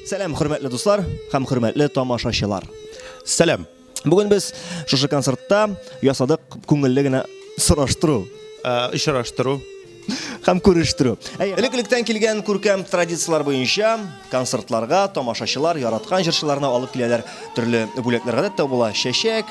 Сәлам, хөрмәтле дуслар һәм хөрмәтле тамашачылар. Сәлам. Бүген без шушы концертта ясадык күңелле генә сораштыру, э, очраштыру һәм күрештү. Элек-электән килгән күркәм традицияләр буенча концертларга тамашачылар яраткан җырчыларны алып киләләр. Төрле бүләкләр гадәттә була, чәчәк,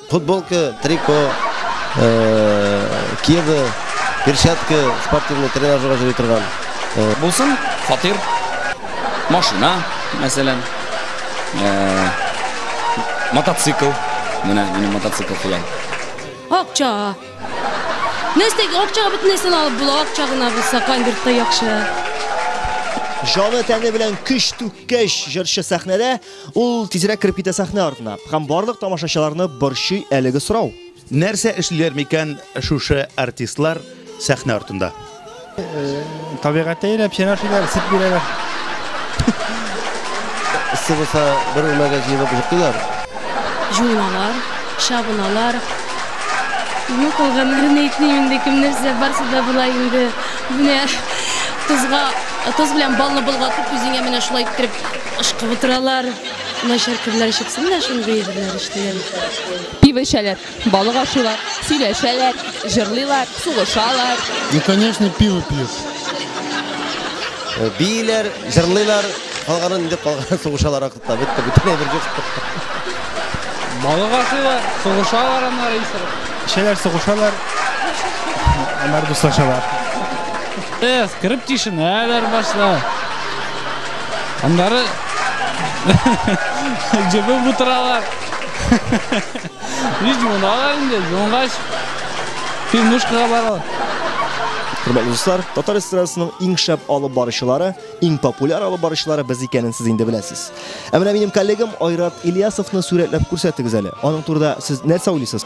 Футболка, трико, кеды, перчатка, спортивный тренажерга җыри торган. Булсын, фатир, машина, мәсәлән, мотоцикл. Менә минем мотоцикл хыял. Акча. Нәрсәгә акчага бөтенесен алып була, акча гына булса кайбер яхшы. Җаны тәне белән көч түккәч, җырчы сәхнәдә Ул тизрәк кереп китә сәхнә артына һәм барлык тамашачыларны борчый әлеге сорау. Нәрсә эшлиләр микән шушы артистлар сәхнә артында? Табигатьтә йөрәп чәнашиләр, сөт бирәләр. Эссе булса, бер үрмәгә җыелып җыктылар. Җуыналар, чабыналар. Ну, кылганнарны әйтмим инде, кем нәрсә барсы да була инде. Менә тозга, тоз белән балны болгатып, үзеңә менә шулай иттереп Ышкып утыралар. Начар көннәр чыксын да шундый җырлар эшлиләр. Пиво эчәләр, балык ашыйлар, сөйләшәләр, җырлыйлар, сугышалар. И конечно пиво пьют. Бииләр, җырлыйлар, калганын инде калганын сугышалар акыртта. Бетте, бөтен әйбер җык. Балык ашыйлар, сугышалар аннары исереп. Эчәләр, сугышалар, аннары дуслашалар. Эс, кереп тишенәләр башта. Аннары җебеп утыралар. Ниҗ юналар инде, юнгач пивнушкага баралар. Хөрмәтле дуслар, татар эстрадасының иң шәп алып баручылары, иң популяр алып баручылары без икәнен сез инде беләсез. Ә менә минем коллегам Айрат Ильясовны сурәтләп күрсәтегез әле. Аның турында сез нәрсә уйлыйсыз?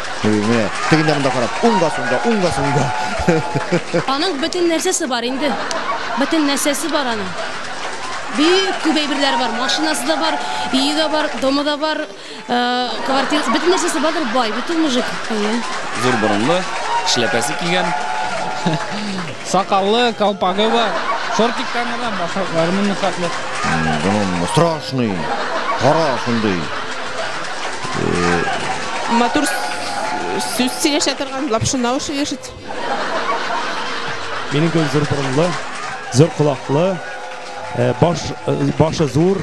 Менә, тегендә монда карап, уңга сунда, уңга сунда. Аның бөтен нәрсәсе бар инде. Бөтен нәрсәсе бар аның. Бик күп әйберләре бар. Машинасы да бар, өе дә бар, домы да бар, э, квартирасы, бөтен нәрсәсе бардыр, бай, бит ул мужик. Әйе. Зур борынлы, шляпәсе кигән. Сакаллы, калпагы бар. Шортиктан гына башаклары моны хәтле. Моның страшный. Кара шундый. Матур сүз сөйләшә торган лапшына ошый ишет. Минем кебек зур борынлы, зур колаклы, э, баш, э, башы зур,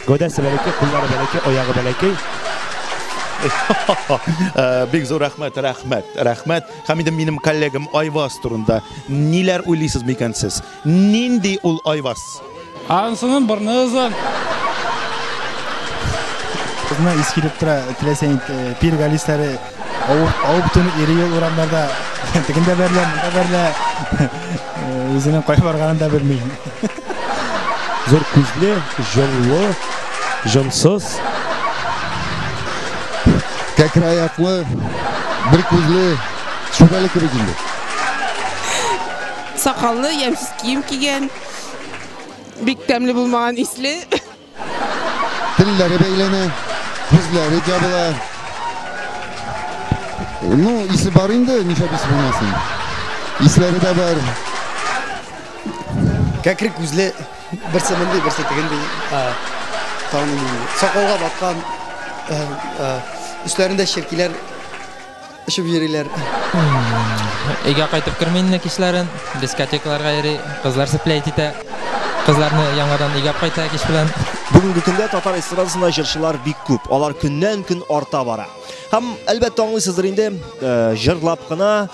гәүдәсе бәләкәй, куллары бәләкәй, аягы бәләкәй. Э, бик зур рәхмәт, рәхмәт, рәхмәт. Һәм инде минем коллегам Айваз турында ниләр уйлыйсыз микән сез? Нинди ул Айваз? Анысының борны озын. Кызны ис килеп тора, теләсә нит пир галисләре авып төн ире ел урамнарда тегендә бәрелә, монда бәрелә. Үзенең кая барганын да белми. Зур күзле, җонлы, җонсыз. Кәкре аяклы, бер күзле, шүбәле кебек инде. Сакаллы, ямьсез кием кигән. Бик тәмле булмаган исле. Телләре бәйләнә, күзләре җабыла. Ну, исе бар инде, нишләп исе булмасын. Исләре дә бар. Кәкре күзле, берсе мондый, берсе тегендый. Таныйм. Сакалга баткан. Өсләрендә черкиләр Эчеп йөриләр. Өйгә кайтып керми инде кичләрен. Дискотекаларга йөри, кызлар спләйт итә. Кызларны яңадан өйгә кайта кич белән. Бүгенге көндә татар эстрадасында җырчылар бик күп. Алар көннән-көн арта бара. Һәм, әлбәттә, аңлыйсыздыр инде, җырлап кына,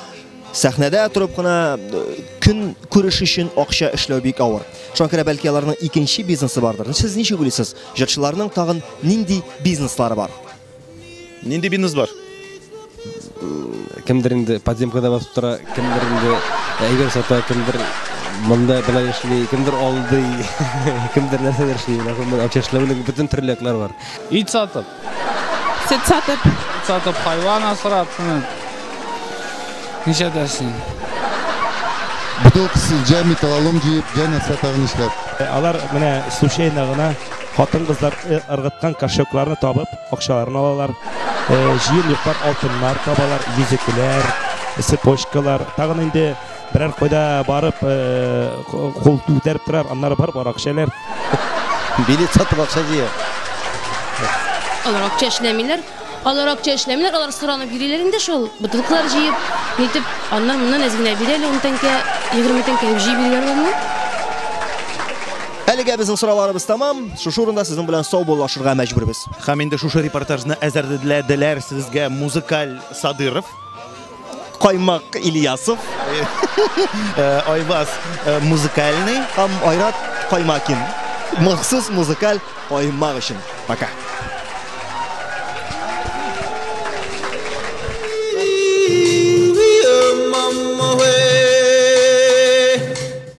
сәхнәдә торып кына көн күреш өчен акча эшләү бик авыр. Шуңа күрә бәлки аларның икенче бизнесы бардыр. Сез ничек уйлыйсыз, җырчыларның тагын нинди бизнеслары бар? Нинди бизнес бар? Кемдер инде подземкада басып тора, кемдер инде әйбер сата, кемдер монда белән эшли, кемдер алдый, кемдер нәрсәдер эшли. Монда акча эшләүнең бөтен төрлекләр бар. Ит сатып. Сөт сатып. Ит сатып, хайван асрап, шуны. Ничә дәсен? Бутылкасы җәй металлолом җыеп, җәй нәрсә тагын эшләп. Алар менә случайно гына Хатын-кызлар э, ыргыткан кошелкларны табып, акчаларын алалар. Э, җыен йоклар алтыннар табалар, йөзекләр, цепочкалар. Тагын инде берәр кайда барып, э, кул күтәреп торар, аннары барып арак эчәләр. Билет сатып акча җыя. Алар акча эшләмиләр, Алар акча эшләмиләр, алар соранып йөриләр инде шул, бутылкалар җыеп, нитеп, аннан моннан әз генә бир әле, ун тәңкә, егерме тәңкә дип җыеп йөриләр аларны. Әлегә безнең сорауларыбыз тәмам. Шушы урында сезнең белән саубуллашырга мәҗбүрбез. Һәм инде шушы репортажны әзерләделәр сезгә Музыкаль Садыров. Каймак Ильясов. Э, Айбас э, музыкальный. Һәм Айрат Каймакин. Махсус музыкаль каймак өчен. Пока.